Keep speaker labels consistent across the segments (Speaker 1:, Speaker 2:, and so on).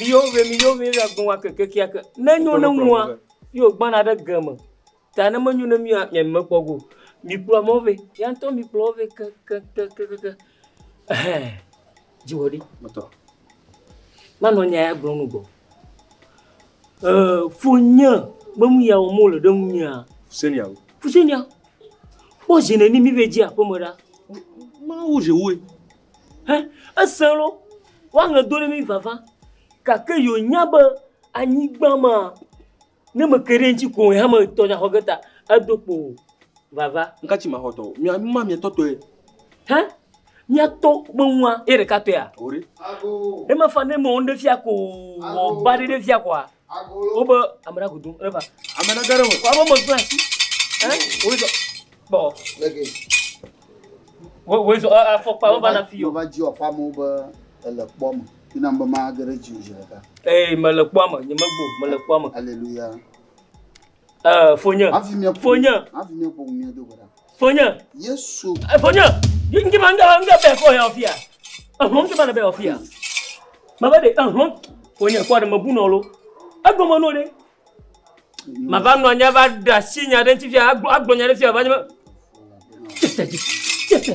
Speaker 1: Mi yo ve mi yo ve ra gbɔn wa keke kia ke. Ne nyo ne nua yo gbana ɖe geme. Ta ne menyo ne mia mia me kpɔ go. Mi kplɔ mo ve. Ya ntɔ mi kplɔ ve ke ke ke ke ke ke. Eh. Ji wodi. Moto. Ma no nya ya gbɔn nu go. Eh, fo nye me mu ya o mo le ɖe mu mia. Fusenia. Fusenia. Fo jene ni mi ve ji a fo mo da. Ma wo je wo. Ẽ, esẽ loo, woaŋe do ɖe mí vava. Gake yewo nya be anyigba maa, ne me ke ɖe eŋutsi koŋ hame tɔ dza xɔ ge ta, edo kpo vava. Ŋka tsi ma xɔ tɔ o? Mia nu ma mia tɔ tɔɛ. Hẽ, mia tɔ be nua ye ɖeka tɔɛa? Oɖe. Ema fa ne me wɔnu ɖe fia ko wɔ ba ɖe ɖe fia koa? wobe ame ɖe agudo ɖe va ame ɖe ɖe wò ame me gbla si ɛ wòye zɔ kpɔ wòye zɔ afɔkpa wo va na fi yɔ. wòva dzi wɔ fama wo be ele kpɔ me yina be ma ge ɖe dzi o zi ɖeka. ee mele kpɔ me nye me gbɔ mele kpɔ me. aleluya. Eh, fonye. Hafi mia ƒo. Fonye. Hafi mia ƒo mia do gɔɖa. Fonye. Yesu. Eh, fonye. Ngi ma nga nga bɛ fɔ ya ofia. Ehlɔn ti ma na bɛ ofia. Ma bɛ de ehlɔn. Fonye kɔ de me bu nɔ lo. Egbo me no de. Ma va nɔ nya va da si nya de nti fia agbo agbo nya de fia va nya. Tete. Tete.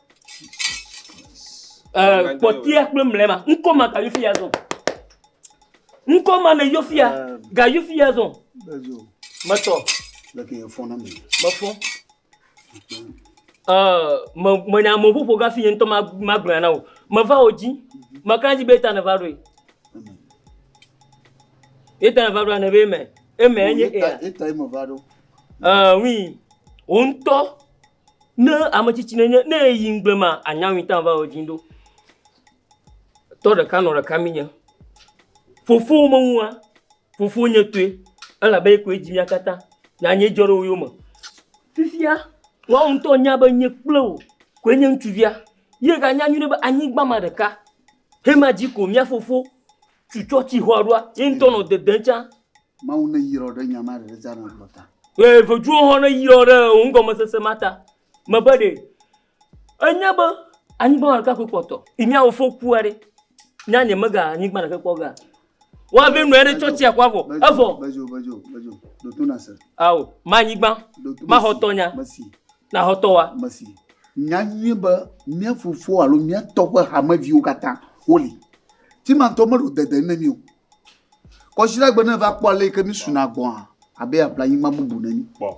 Speaker 1: Ɛɛ kpɔtɛa kple mlɛma. Ŋkɔ ma gayi fi ya zɔn. Ŋkɔ ma ne yɔ fi ya. Gayi fi ya zɔn. Metɔ. Leke ye fɔ na mi. Mefɔ. Ɛɛ me me nya me ƒoƒo gafi ye ŋutɔ ma ma gblɔe na o. Meva wo dzi. Meka dzi be eta ne va ɖoe. Eta ne va ɖoa ne be eme. Eme enye ea. Eta ye me va ɖo. Ɛɛ oui. Wo ŋutɔ. Ne ame tsitsi nenye ne eyi ŋugble ma anya ŋui tam va wɔ dzi ɖo. Tɔ ɖeka nɔ ɖeka mi nye. Fofo menua, fofo nye tɔe elabe ye koe dzi mía katã. Nya nye dzɔ ɖe wo yome. Fifia woa ŋutɔ nya be nye kple wò koe nye ŋutsuvia. Ye ganya nyui ɖe be anyigba ma ɖeka hema dzi ko mía fofo tu tsɔ tsi xɔa ɖoa ye ŋutɔ nɔ dedem tsã. Mawu neyrɔ ɖe nya ma ɖe Zana gblɔ ta. Ʋe veviwo hɔ̃ neyrɔ ɖe wò nugɔmesese ma ta. Mebe ɖe ènya be anyigba ɖeka koe kpɔtɔ yi nya wò fo kua ɖe? Nya nye mega anyigba ɖeka kpɔ ga. Wa ve nɔe ɖe tsɔ tsia kua vɔ. Evɔ. Bedzo, bedzo, bedzo. Ɖo to na se. Ao, ma anyigba. Ma xɔ tɔ nya. Mesi. Na xɔ tɔ wa. Mesi. Nya nyuie be mía fofo alo mía tɔ ƒe hameviwo katã woli. Ti ma ŋutɔ meɖo dede ne mí o. Kɔsiɖagbe ne va kpɔ ale yi ke mi suna gbɔa, abe ya ƒle anyigba bubu neni kpɔ.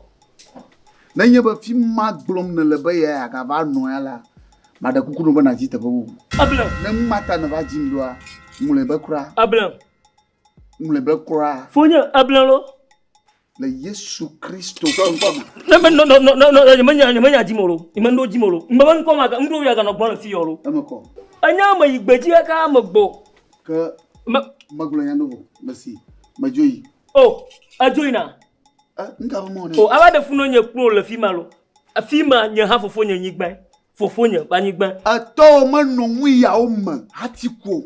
Speaker 1: Ne nye be fi ma gblɔm ne le be ya ya ga va nɔ ya la, ma ɖe kuku no be na dzi teƒe bubu. Eblem. Ne nu ma ta ne va dzi ŋɖoa, ŋlɔe be kura. Eblem. Ŋlɔe be kura. Fonye eblem lo. Le Yesu Kristo. Ne me no no no no no me nya me nya di mo lo. Me ndo di mo lo. Me me nko ma ndo ya ga no gbɔ le fi yo lo. Eme ko. Enya me yi gbeji ka ka me gbo. Ke me me gbo nya do bo. Merci. Me joyi. Oh, a joyi na. Eh, nka mo ne. Oh, aba de fu no nye kpro le fi ma lo. A fi ma nye ha fofo nye nyigba. fofonye ƒe anyigba. Etɔwo menɔ nuyawo me hati ku o.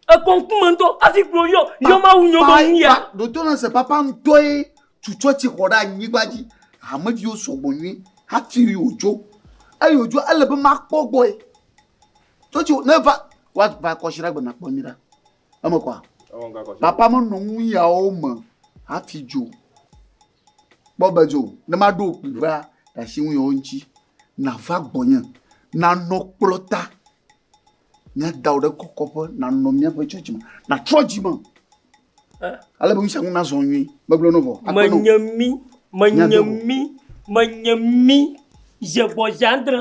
Speaker 1: Ekɔ ŋkume ŋutɔ hafi gblɔ yɔ yɔ Mawu nyɔ be nuya. Ɖoto na se papa ŋutɔe tu tsɔtsi xɔ ɖe anyigba dzi. Hameviwo sɔgbɔ nyui hafi wòdzo. Eye wòdzo ele be makpɔ gbɔe. Tsɔtsi ne va woava kɔsiɖa gbe nakpɔ nyui ɖa. Eme kɔa? Papa menɔ nuyawo me hafi dzo. Kpɔ be dzo ne maɖo wò kpli ʋaa ɖe asi ŋunyɔwo ŋuti, nàva gbɔnye, nànɔ kplɔ̃ta, míada wò ɖe kɔkɔƒe, nànɔ míaƒe tsɔtsi me, nàtrɔ dzi me ale be nu sia nu nazɔ nyuie. Megblɔ na wò vɔ. Aƒenɔ, Menye mí, menye míade go. mí, menye mí, dze gbɔdze adre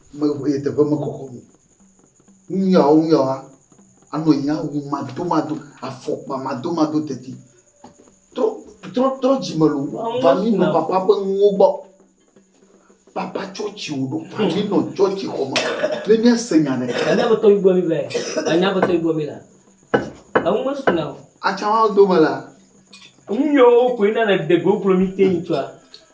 Speaker 1: Mexɔe le teƒe mekɔkɔ me o. Nuyawo nuyawoa, anɔ anyi na awu madomado, afɔkpa madomado teti. Trɔ, trɔ, trɔ dzime loo va mi nɔ papa ƒe nuwo gbɔ. Papa tsɔtsi wò ɖo va mi nɔ tsɔtsi xɔ me ne míase nya ɖe. Anya be tɔgbi gbɔ mi va yi. Anya be tɔgbi gbɔ mi la. Eŋu mesu na o. Atsã wa dome la. Nuyawo koe na le ɖe go kplɔ mi te yi tsɔa.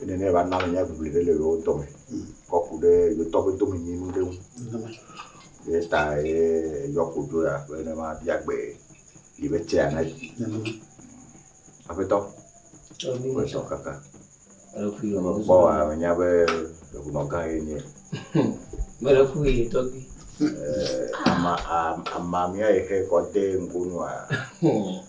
Speaker 1: Eye nenea va na menya ʋiʋli ɖe le yewo dɔme kɔ ku ɖe yewotɔ ƒe domenyinu ɖe ŋu. Eya ta ye yɔ kodzo ya be ne mabia gbe yi be tsea na yi. Aƒetɔ, aƒetɔ kaka. Mekpɔ wa menya be eŋunɔ gã ye nye. Mele fu ye tɔgbi. Ama amamia ye xe kɔ de ŋgonu a.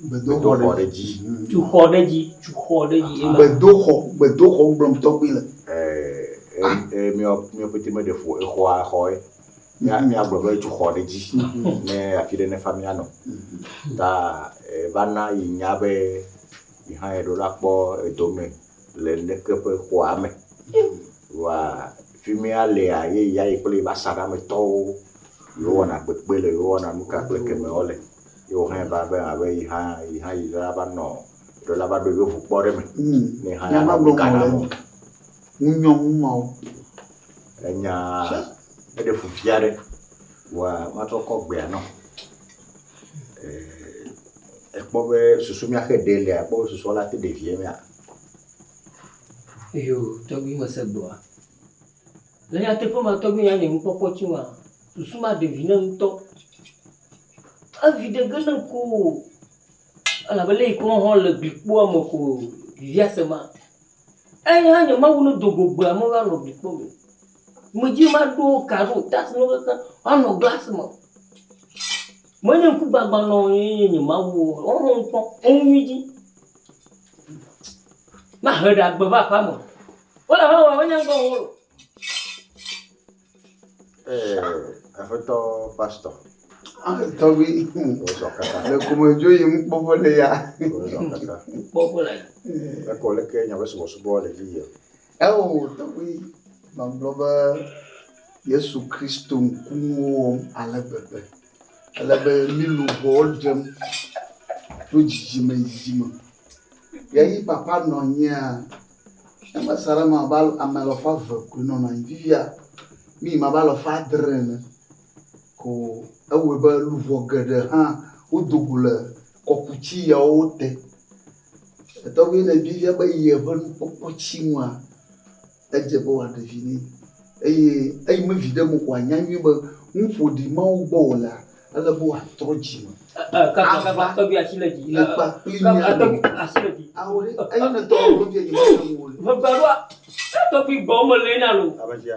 Speaker 1: Gbedoxɔ ɖe dzi. Tuxɔ ɖe dzi. Tuxɔ ɖe dzi. Gbedoxɔ. Gbedoxɔ gblɔm tɔgbi le. Míawo pete míeɖe ƒo exɔa xɔ ye. Míagblɔ be tuxɔ ɖe dzi ne afi ɖe nefa míanɔ. Ta vana yi nya be yi hã eɖo la kpɔ edome. le leke ƒe xɔa me. Wa fimia lia ye ya yi kple eƒe asaɖa me tɔwo yewo wɔna kpekpe le yewo wɔna nuka kple keme wo le. Ye wo hã va be abe yi hã yi hã yi la va nɔ ɖe la va ɖo yewo ŋu kpɔ ɖe me. Ne hã ya nɔ ka na mo. Ŋu nyɔ ŋu ma wo. Enya eɖe fu fia ɖe wa ma tɔ kɔ gbea nɔ. ekpɔ be susu mía xe ɖe lia, ekpɔ be susua la te ɖe vie mea? Eyo, tɔgbi mese gbewoa. Le nyateƒe me tɔgbi nya nye nukpɔkpɔ tsi ŋua, susu ma ɖe vi nam ŋutɔ. Evi ɖe ge nam ko o. Elabe le yi ke woaxɔ le gli kpoa me ko vivia se ma. Eya nye Mawu ne do go gbea me woanɔ gli kpɔ me. Medzi be maɖo ka ɖo o. Task ɖewo kaka woanɔ glass me. Menye ŋkugbagba nɔ wo ye nye Mawu o. Woahe ŋkɔ enu nyui dzi. Mahe ɖe agbe va aƒea me. Wole aƒea me vɔ wonya ŋkɔ ŋu o. Ee, Aƒetɔ Pastor. Ah, tɔgbi. Wozɔ kaka. Le komedzo yim kpɔƒe le ya. Wozɔ kaka. Kpɔƒe le ya. Ekɔ leke nyabe subɔsubɔ le dzi yia. Eo tɔgbi magblɔ be Yesu Kristo ŋkunuwo wɔm ale gbegbe. Ele be mi luʋɔwo ɖem tso dzidzime yi dzidzime. Ye yi papa nɔ anyia, ne mese ɖe eme abe ame alafa eve koe nɔna anyi. Fifia mi yi me abe alafa adre ene ko ewɔe be luʋɔ geɖe hã wodo go le kɔkuti yawo te. Etɔgbi le vi fia be yi eƒe nukpɔkpɔ tsi ŋua, edze be wòaɖe vi nɛ. Eye eyi me viɖe me ko wòanya nyuie be nu ƒoɖi ma wo gbɔ wòlea, ele be wòatrɔ dzi me ava le kpa kpli mía ɖewo. Ao ɖe, eyi ne tɔgbi le fi yɛ nyemeɖe ŋu o le.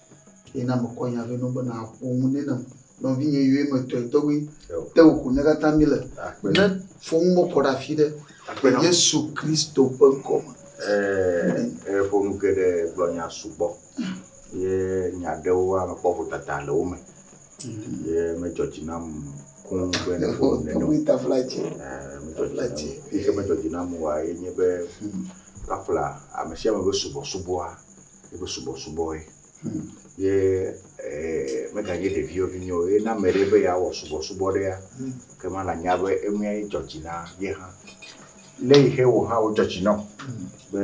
Speaker 1: Eye na mekɔ nya vɛ nɔ be nàƒo nu nɛ nam. Nɔvinye yɔe metɔe tɔgbi te wò ko nyakatã mi le. Ne fɔnu me kɔ ɖe afi ɖe le Yesu Kristo ƒe ŋkɔ me. Ee ƒo nu geɖe gblɔ nya sugbɔ ye nya ɖewoa mekpɔ vodada le wo me ye medzɔ dzi nam kũ be ne ƒo nu nene o. Ee medzɔ dzi nam. Nuyike medzɔ dzi nam oa ye nye be kpakpla amesiame be subɔsubɔa eƒe subɔsubɔe. Ye meganye ɖeviwo vi nyo ye ne ame ɖe be yeawɔ subɔsubɔ ɖea, ke ma nanya be enue dzɔ dzi na ye hã. Lé yi xe wò hã wo dzɔ dzi nɔ be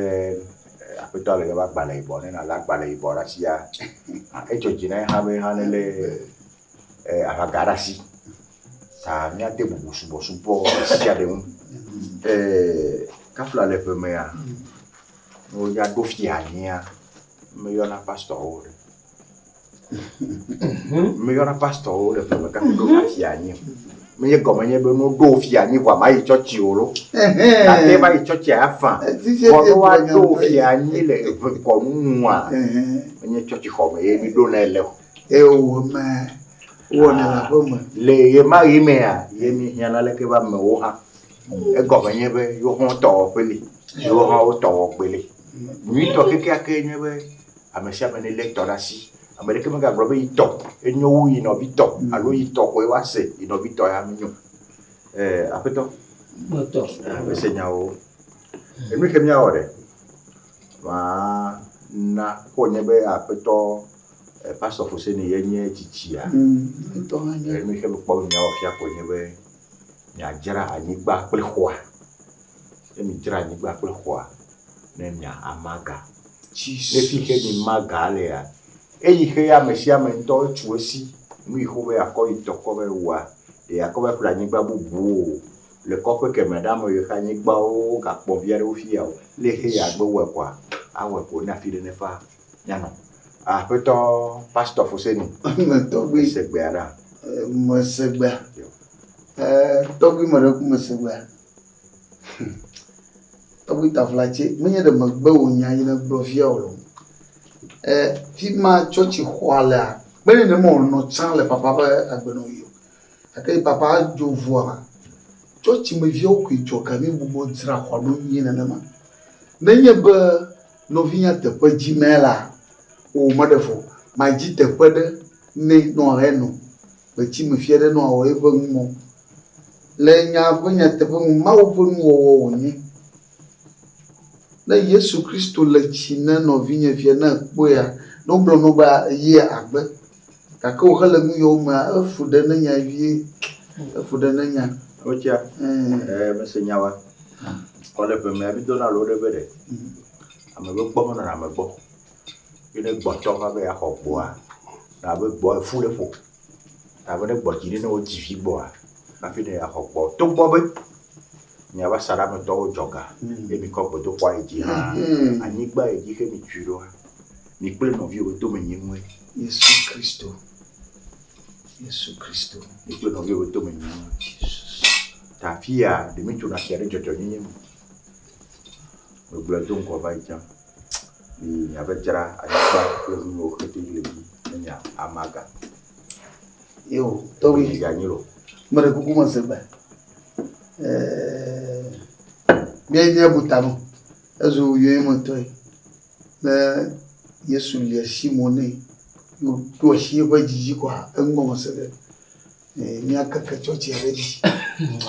Speaker 1: aƒetɔa le eƒe agbalẽ yibɔ ne nalé agbalẽ yibɔ ɖe asia, edzɔ dzi na ye hã be hã nelé aʋaga ɖe asi. Ta míade bubu subɔsubɔ ɖe sia ɖe ŋu. Kafla le ƒe mea. Ne woyɔ ɖo fia nyia, meyɔna pastɔwo ɖe. Meyɔna pastɔwo ɖe ƒe meka ɖo na fia nyi. Menye gɔme nye be no ɖo fia nyi vɔ ma yi tsɔtsi o lo. Ate va yi tsɔtsi afa. Vɔ no wa ɖo fia nyi le eve kɔnu nua. Menye tsɔtsi xɔ me ye mi ɖo na ele o. Ewo me wɔna la ƒe me. Le ye ma yi mea, ye mi hiana leke va me wo ha. Egɔme nye be yewo hã wotɔ wɔƒe li, yewo hã wotɔ wɔgbe li. Nyuitɔ kekeake nye be ame sia ame nelé etɔ ɖe asi. Ame ɖeke megagblɔ be yetɔ enyo wu yi nɔvi tɔ alo yi tɔ koe woase yi nɔvi tɔ ya menyo. Ee, Aƒetɔ. Kpɔtɔ. Mese nyawo. Enu ke míawɔ ɖe? Maa na ko nye be Aƒetɔ eh, Pastor Foseni ye nye tsitsia. Mm, ŋutɔ hã nye. Enu ke mekpɔ be míawɔ fia ko nye be miadzra anyigba kple xɔa, ne midzra anyigba kple xɔa, ne mia ama ga. Ne xixe mi ma ga alea, eyi xe ame sia ame ŋutɔ etso esi, nu yi xo be akɔ yi tɔ kɔ be wua, ɖe akɔ va ƒle anyigba bubu wo o, le kɔƒe kemɛ ɖe ame yi xe anyigba wo gakpɔ vi aɖe wo fia o, le xe ya gbe wɔe kɔa, awɔe ko ne afi ɖe nefa. Mianɔ. Aƒetɔ Pastor Fuseni. Me tɔgbi. Se gbea ɖa. Me se gbea. Tɔgbi me ɖe ku me se gbea. Tɔgbi Taflatse, menye ɖe megbe wò nya yi ne gblɔ fia o. E, fi ma tsɔtsi xɔa lea, kpe ne me wònɔ tsã le papa ƒe agbenɔ yi o. Gake yi papa dzo vua, tsɔtsi me viawo koe dzɔ ga mi bubɔ dzra xɔa ɖo nyuie nenema. Nenye be Nɔvinya teƒe dzi mɛ la o me ɖe fɔ ma dzi teƒe ɖe nɛ nɔ ɣe nɔ gbe tsi me fiɛ ɖe nɔ awɔ ye ƒe nu mɔ le nya ƒe nyateƒe nu Mawu ƒe nu wɔwɔ wo nye ne Yesu Kristo le tsi ne nɔvinye fiɛ ne ekpɔe a ne wo gblɔ nɔ be a eye a gbe Gake wòxe le nuyɔwo mea, efu ɖe ne nya vie. Efu ɖe ne nya. Wotia. Ɛɛ, mese nya wa. Kɔ le ƒeme ya bidona lo ɖe be ɖe. Ame be gbɔ me nɔna ame gbɔ. Ye ne gbɔtɔ va be yeaxɔ gbɔa, na be gbɔ efu ɖe ƒo. Na be ne gbɔ dzi ɖe ne wodzi vi gbɔa, hafi ne yeaxɔ gbɔ. Togbɔ be miabe asaɖa me tɔwo dzɔ ga ye mikɔ gbedoxɔa yi dzi hã, anyigba yi dzi xe mitsui ɖoa, Mi kple nɔviwò ƒe tome nyi ŋue. Yesu Kristo. Yesu Kristo. Mi kple nɔviwò ƒe tome nyi ŋue. Ta afia ɖe mi tso afia ɖe dzɔdzɔnyenye me. Gbegblẽ do ŋgɔ va yi tsã. Mi miave dzra anyigba kple nu yiwo xete le dzi ne mi amaga. Yo, tɔwui. Mi ganyi lo. Mele kuku me se gbe. Ɛɛ. Mia mia butanu. Ezu yoe me tɔe. Ne Yesu li asi mo nɛ, ɖo asi eƒe dzi dzi kɔa, eŋgɔ me se ɖe míakeke tsɔtsia ɖe edzi.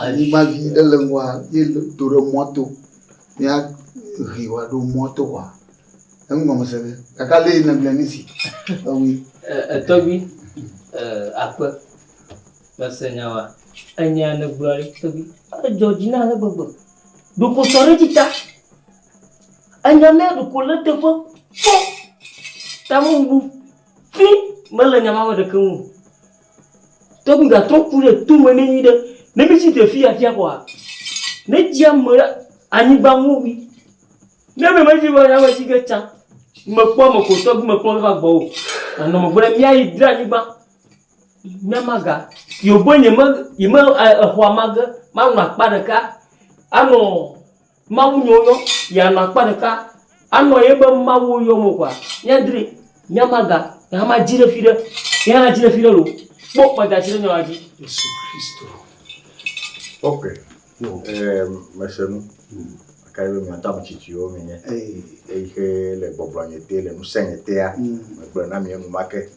Speaker 1: Anyigba vi ɖe le ŋgɔa, míedo ɖe mɔto, míahe wòaɖo mɔto kɔa, eŋgɔ me se ɖe. Gake ale yi nègblɔe nisi, ewui. Etɔgbi, aƒe, mese nya wa. Enya nègblɔa ɖe, tɔgbi? Edzɔ dzi na ale gbegbe. Ɖo kpɔtɔ ɖe edzi ta. Enya mea ɖeko le teƒe kpɔ. Ta me bubu ƒi mele nya ma me ɖeke ŋu. Tɔgbi ga trɔ ku ɖe to me ne nyuiɖe. Ne mi si te fi afia kɔa, ne dzi ame ɖe anyigba ŋu wi. Ne me me dzi be ame si ke tsa me kpɔ ame ko tɔgbi me kpɔ va gbɔ o. Na nɔ me gbe mia yi dra anyigba. Mia ma ga. Yo bo nye me yi me exɔa ma ge ma nɔ akpa ɖeka. Ano Mawu nyɔ yɔ ya nɔ akpa ɖeka anɔ ye be Mawu yɔ mo kwa nya dri nya maga ya ma dzi ɖe fi ɖe ya na dzi ɖe fi ɖe lo kpɔ kpa da dzi ɖe nya dzi Yesu Kristo ok no eh mese nu kai be mia tam chichi yo mi nye ei ke le gbɔgblɔ nye te le nu se nye te ya me gblɔ na mi enu ma ke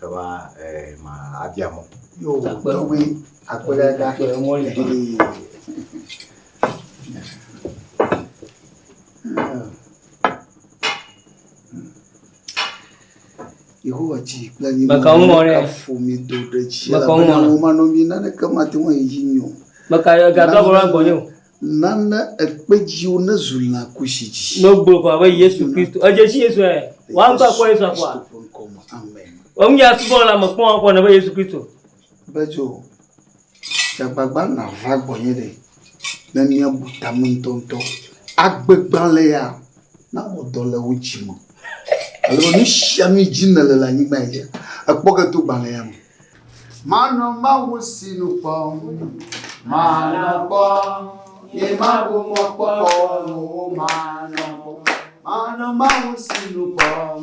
Speaker 1: ke ba eh ma abia mo yo to we akpela da ke mo le Yehowa dzi kple anyi Maka wo mɔ ɖe. fo mi do ɖe dzi Maka wo mɔ elabena ɖe. wo manɔ mi naneke mate ŋu ayi dzi nyo Meka gado agblɔ la gbɔnye o. nana ekpe dziwo nezu lã kusi dzi No gblɔ ko abe Yesu Kristo. Edze si Yesu ɛ. Wa ŋutɔ akpɔ Yesu akpɔa. Kristo ƒe ŋkɔ me. amen Enu ya subɔ la me kpɔ akpɔ ne be Yesu Kristo. Bedzo, dze agbagba nàva gbɔnye ɖe, ne míabu ta me ŋutɔŋutɔ. Agbe gbalẽa nawɔ dɔ le wò dzi me alo nu sia nu dzi nèle le anyigba dzi ekpɔ ge to gbalẽa me. Manɔ Mawu si nu kpɔm, manɔ kpɔ, ye mabu mɔkpɔkpɔ nu, manɔ kpɔ, manɔ Mawu si nu kpɔm.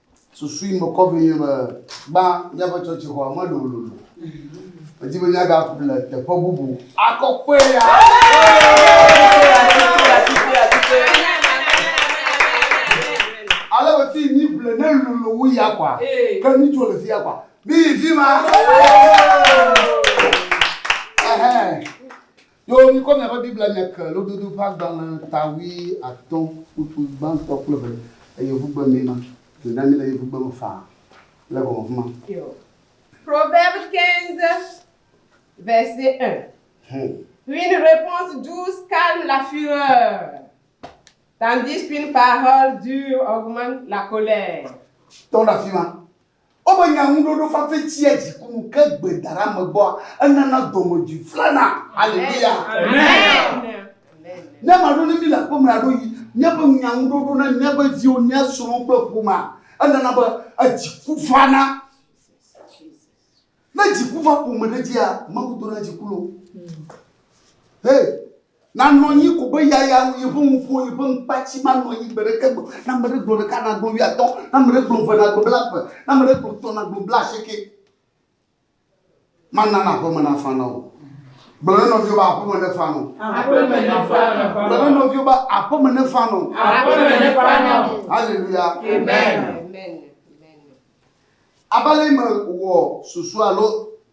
Speaker 1: Susui mekɔ vɛ nye be, gbã míaƒe tsɔtsixɔa mele wololo o. Medi be míagaku le teƒe bubu akɔ kpɔe ya. Ale be fii míeble ne lolo wu ya kɔa, ke míetso le fia kɔa, míyi fi ma. Ɛhɛɛ. Yoo, mikɔ miaƒe Biblia miake Lododo ƒe agbalẽ ta wui atɔ̃ kpukpui gbãtɔ kple eve le yevugbe mee ma. Dzo na mi le yevugbe me faa le gɔme afi ma. Yoo. Proverbe 15, verset 1, Hum. Une reponse douce calme la fureur, tandis qu'une parole dure augmente la colère. Tɔ ɖe afi ma. Wobe nyaŋuɖoɖo fafɛ tsia dziku nu, ke gbe daɖa megbɔa, enana dɔmedzoe flana. Haleluya! Ne maɖo ne mí le aƒeme aɖo yi míaƒe nyaŋuɖoɖo na míaƒe viwo, mía srɔ̃wo kple ƒomea, enana be edziku vana. Ne dziku va ƒome ɖe dzia, Mawu dona dziku lo. Hey! Nanɔ anyi ko be yaya wu yeƒe nuƒo, yeƒe ŋkpatsi manɔ anyi gbe ɖeke gbe o. Ne ame ɖe gblɔ ɖeka, nagblɔ wuiatɔ̃, ne ame ɖe gblɔ eve, nagblɔ blaeve, ne ame ɖe gblɔ etɔ̃, nagblɔ blaasieke. Mana aƒeme nafa na wò. Gblɔ na nɔviwò be aƒeme nefa na wò. Aƒeme nefa na wò. Gblɔ na nɔviwò be aƒeme nefa na wò. Aƒeme nefa na wò. Haleluya. Amen. Amen. Abe ale yi mewɔ susu alo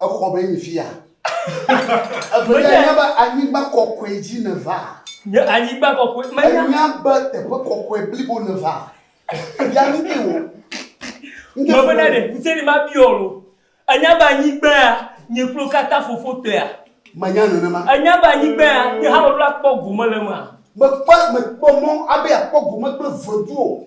Speaker 1: Exɔ be enyi fia. Evelia, ènya be anyigba kɔkɔe dzi nèva. Nye anyigba kɔkɔe menya. Ènya be teƒe kɔkɔe blibo nèva. Ya nu ke wò. Mebena ɖe ŋusẽ li mabiɔ wò. Ènya be anyigbaa nye kplo katã fofo tɔea? Menya nenema. Ènya be anyigbaa nye hã meɖo akpɔ gome le emea? Mekpɔ mekpɔ mɔ abe yeakpɔ gome kple vedu o.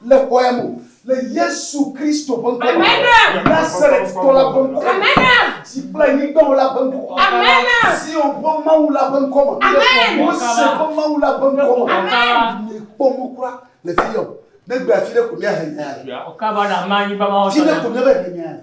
Speaker 1: Le kɔya me o. Le Yesu Kristo ƒe ŋkɔ me. Nazarettɔ la ƒe ŋkɔ me. Dzi kple anyigbawo la ƒe ŋkɔ me. Zion ƒe Mawu la ƒe ŋkɔ me. Mose ƒe Mawu la ƒe ŋkɔ me. Miekpɔ mɔ kura le fiya o. Negbe afi ɖe ko miahe nya ya le. Afi ɖe ko miava he nya ya le.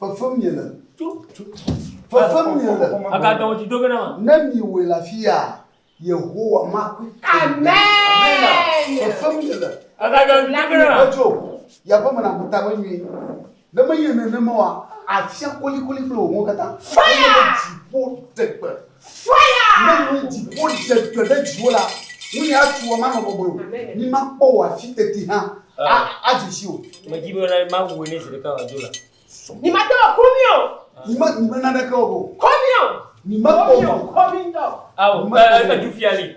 Speaker 1: Fefem miele. Fefem miele. Ne miewɔe le afia, Yehowa makui. Fefem miele. Edzo, yeaƒe me naku ta vevi. Ne menye nenema oa, afia kolikoli kple wò ŋuwo katã. Fire! Dziƒo dze gbe. Ne nu dziƒo dze dɔ ɖe dziwò la, ŋunye atu wò manɔ bɔbɔe o, mi makpɔ wò afi teti hã adze si o. Medi be mena mawu ene zi ɖeka wòadzo la. Mi mate wɔ komi o. Mi me mi me naneke o. Komi o. Mi me kpɔ mɔ. Komi ŋutɔ. Ao, e, e, e, du fia li.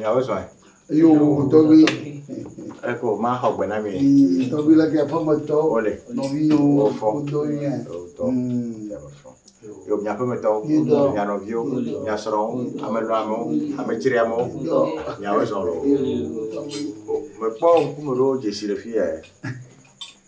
Speaker 1: Nyawo zɔe. Eyo tɔgbi. Eko ma xɔ gbe na mi. Tɔgbi le ke aƒemetɔ. Wole. Nɔviwo. Wofɔ. Wodɔ yi yɛ. Wodɔ. Yo mia aƒemetɔwo. Yodɔ. Mia nɔviwo. Mia srɔ̃wo. Ame lɔ amewo. Ame tsiri amewo. Yodɔ. Nyawo zɔ lɔ. Mekpɔ ŋkume ɖewo dzesi le fi yɛ.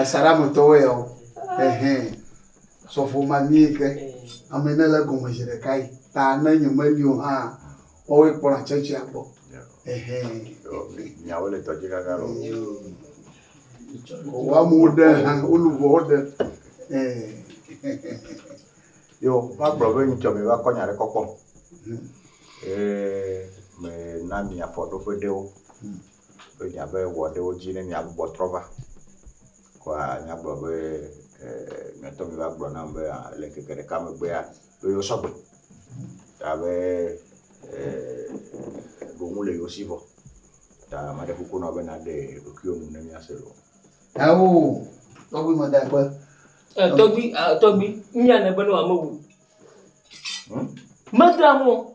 Speaker 1: Asaɖa me tɔwoe yawo. Ehɛn. Sɔfo ma mie ke. Ame ne le gɔme zi ɖeka yi. Ta ne nye me li o hã, woawoe kpɔna tsɛtsia gbɔ. Ehɛn. Nyawo le tɔdzi gãgã lɔ. Wo amewo ɖe hã, wo lu vɔ wo ɖe. Yo, va gblɔ be nyitsɔ mi va kɔ nya ɖe kɔkɔ. Ye me na mi afɔɖoƒe ɖewo. be miava wɔ ɖe wo dzi ne miagbugbɔ trɔ va. Kɔa míagblɔ be e, miatɔ miva gblɔ nam be le ŋkeke ɖeka megbea, ɖo yewo sɔgbe. Ta be e, ɖo ŋu le yewo si vɔ. Ta maɖe kuku nɔ be naɖe ɖokuiwo nu ne míase loo. Ao, tɔgbi me da kpe. Eh, tɔgbi, ah, tɔgbi, mía ne be ne wame wu. Hmm? Medra mo.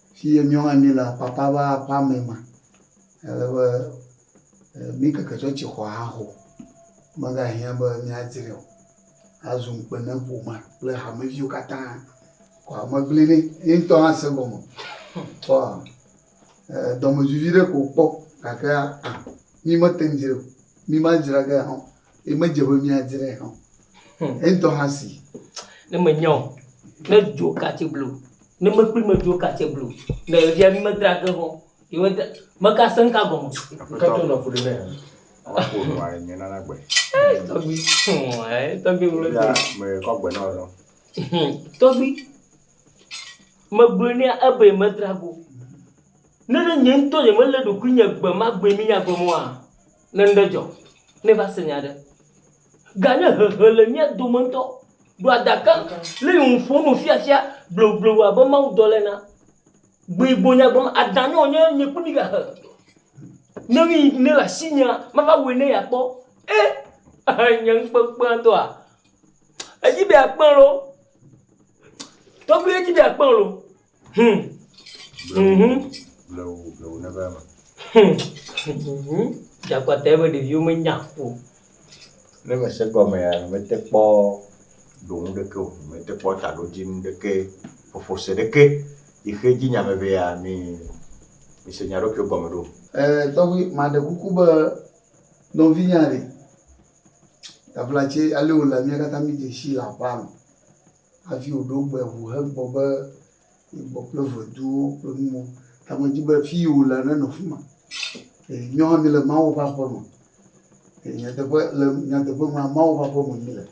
Speaker 1: Fiye miɔ hã mi le apapa va apa mɛ ma, ele be mi keke tsɔ tsi xɔ ha xo. Me ga hiã be mi a dzrɛ o. A zu ŋukpe ne ƒoma kple hame viwo kata. Kɔ hame gble ne ye ŋtɔ hã se gɔme. Kpɔ dɔmedzoe viɖe ko kpɔ gake a mi me te ŋ dzrɛ o. Mi ma dzra ge hã o. Ye me dze be mi adze ɖe hã. Hmm. E dɔ hã si. Ne me nyɔ. Ne dzo katse blu. Ne me kpli me dzo katse blu. Ne e via mi me dra ge hɔ. Ye me dra. Me ka sen ka gɔme. Me ka tɔ na fu de ne. Wa ko no a nye nana gbe. Eh, tɔgbi. Hmm, eh, tɔgbi wolo. Ya, me kɔ gbe na lo. Hmm, tɔgbi. Me gbe ne ebe me dra go. Ne ne nye ntɔ ye me le ɖokui nye gbe ma gbe mi nya gɔme wa. Ne nuɖe dzɔ, ne va se nya aɖe, gane hehe le mía dome ŋutɔ, ɖo adaka le yi ŋu ƒo nu fiafia blobloblo abe mawudɔla ena. Gbe gbo nya gbe ma, Ada ne wònye nye kple mi gahe. Ne ɣeyiɣi ne le asinyea, mava wɔe ne yeakpɔ. E! Ehe nye ŋukpeŋukpea ŋutɔa. Edzi be yeakpɔe loo. Tɔgbuiwo edzi be yeakpɔe loo. Hmm. Blewu, Mhm. blewu, blewu neva eme. Hmm. Mhm. Dzakpata ebe ɖeviwo menya o. Ne mese gɔmea, mete kpɔ ɖo nu ɖeke o. Mete kpɔ taɖodzinu ɖeke, ƒoƒose ɖeke. Xixe dzi nya me ʋɛa, mi, mise mia ɖokuiwo gɔme ɖo. Eh, tɔgbi, maɖe kuku be nɔvinyea ɖe, Davlatse, ale wòle mía katã mídze sii le aƒea me. hafi wòɖo gbe ŋu hegbɔ be yegbɔ kple ʋeduwo kple nuwo. Ta medi be fi yi wòlea nenɔ afi ma. Ee, míawo hã míele Mawu ƒe aƒe me. Ee, nyateƒe le nyateƒe me Mawu ƒe aƒe me míele.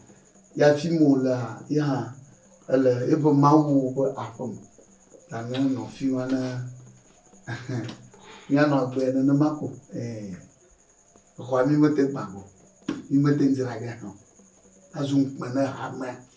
Speaker 1: Ya fi ma wòlea ye hã ele eƒe Mawu ƒe aƒe me. Ta nenɔ afi ma ne míanɔ agbe nenema ko. Ee, exɔa mi mete gbã o, mi mete dzra ɖe hã o. Azu ŋukpe na hamea.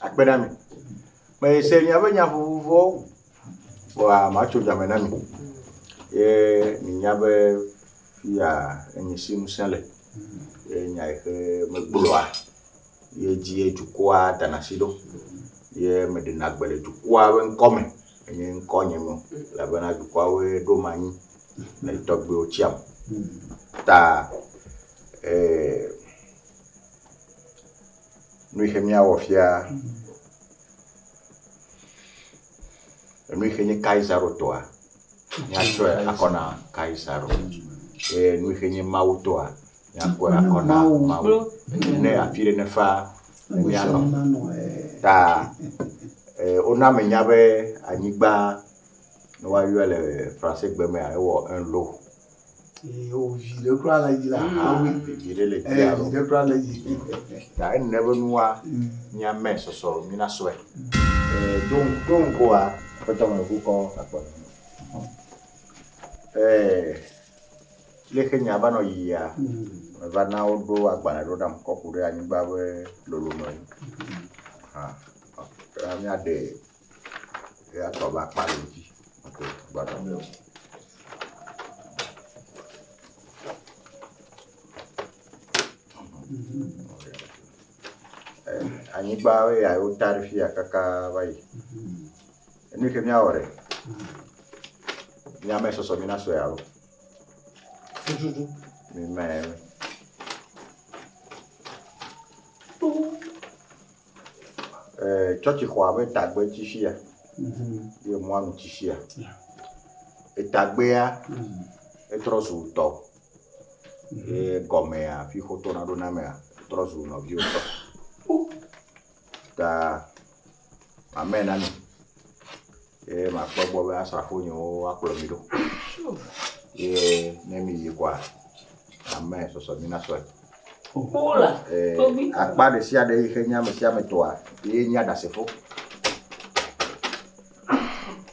Speaker 1: akpe na mi. Mese miaƒe nya vovovowo, vɔa matso dua me na mi. Ye minya be fia enye si ŋusẽ le, ye nya yi ke megblɔa, ye dzie dukɔa dana si ɖo, ye meɖena gbe le dukɔa ƒe ŋkɔ me, enye ŋkɔ nye me o, elabena dukɔawoe ɖom anyi le tɔgbuiwo tiam. Ta eh, Nuixe míawɔ fia? Nuixe nye Kaisaro tɔa? Míatsɔe akɔ na Kaisaro. Eye nuixe nye Mawu tɔa? Míakɔe akɔ na Mawu. Ne afi ɖe nefa ne míanɔ ta wona menya be anyigba ne woayɔe le fransegbe mea ewɔ un lot. viɖe kura le dzi la awi viɖe le dzi alo viɖe kura le dzi ta ene be nua mia mɛ sɔsɔ mina sɔe don don koa pɛtɔ me ku kɔ akpɔ eh leke nya va nɔ yiyia me va na wo ɖo agbalẽ ɖo nam kɔ ku ɖe anyigba be lolo nɔ yi ha mia de Eya tɔ be akpa le edzi. Ate ŋu gbadɔ mee o. Eh, Anyigba ye ya wota ɖe fi ya kaka va yi. Enu yi ke míawɔ ɖe. Míame sɔsɔ mina sɔe alo. Tututu. Mímae. Tsɔtsixɔa ƒe tagbe ti fi ya ye emɔa nu ti fi ya. Etagbea etrɔ zu tɔ ye egɔmea afi si wotona ɖo na mea etrɔ zu nɔviwo tɔ ta amen ami. Ye makpɔ egbɔ be asrafo nyewo akplɔ mi ɖo. Ye ne miyi kɔa, ame sɔsɔ mi na sɔe. Akpa ɖe sia ɖe yi xe nye ame sia ame tɔa, ye nye aɖasefo.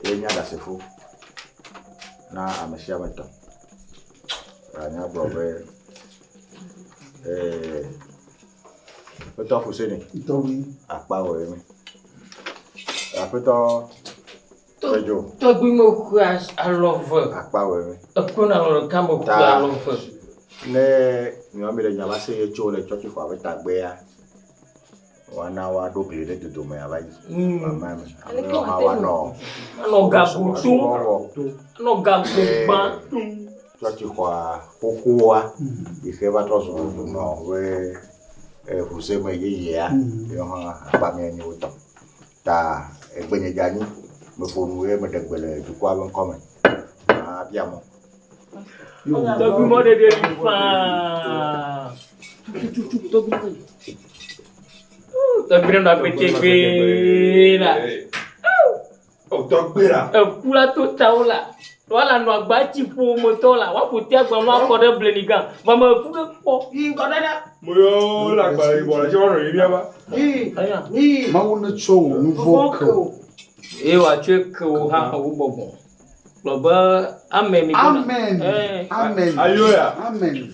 Speaker 1: Ye nye aɖasefo na ame sia ame tɔ. Anya gblɔ be, ee. Aƒetɔ Huseni. Ntɔgbi. Akpa wɔ ye mi. Aƒetɔ Tɔdzo. Tɔgbi me ku alɔ ve. Akpa wɔ ye mi. Eku na alɔ ɖeka me ku alɔ ve. Ne nyɔa mi le nya va se ye tso le tsɔtsi xɔ abe tagbea wana wa ɖo gli ɖe dodome ava yi. Mama mi. Ame wa wa nɔ. Anɔ gago tum. Anɔ gago gbã tum. Tsɔtsixɔa xoxoa yi xe va trɔ zu nɔ be ŋusẽme yeyea yewo hã akpa mía nyi wo tɔ ta egbenye dze anyi meƒo nu eye meɖe gbe le dukɔa ƒe ŋkɔ me mabia mɔ. Tɔgbuimɔ ɖeɖe li faa. Tututu tɔgbuimɔ ɖe li. Tɔgbuimɔ ɖe li. Tɔgbuimɔ ɖe li. Eku la to tawo la wa la nɔ agba tsi ƒo me tɔ la wa ƒo te agba ma kɔ ɖe bleni gan va me ku ke kpɔ. Yi ŋgɔ ɖe ɖe. Mo yɔ la agba yi bɔ la tsi wɔnɔ yi bia ba. Yi yi. Mawu ne tsɔ wò nu vɔ ke o. Ye wa tsɔe ke wò hã wò bɔbɔ. Gblɔ be amen. Amen. Amen. Ayo ya. Amen.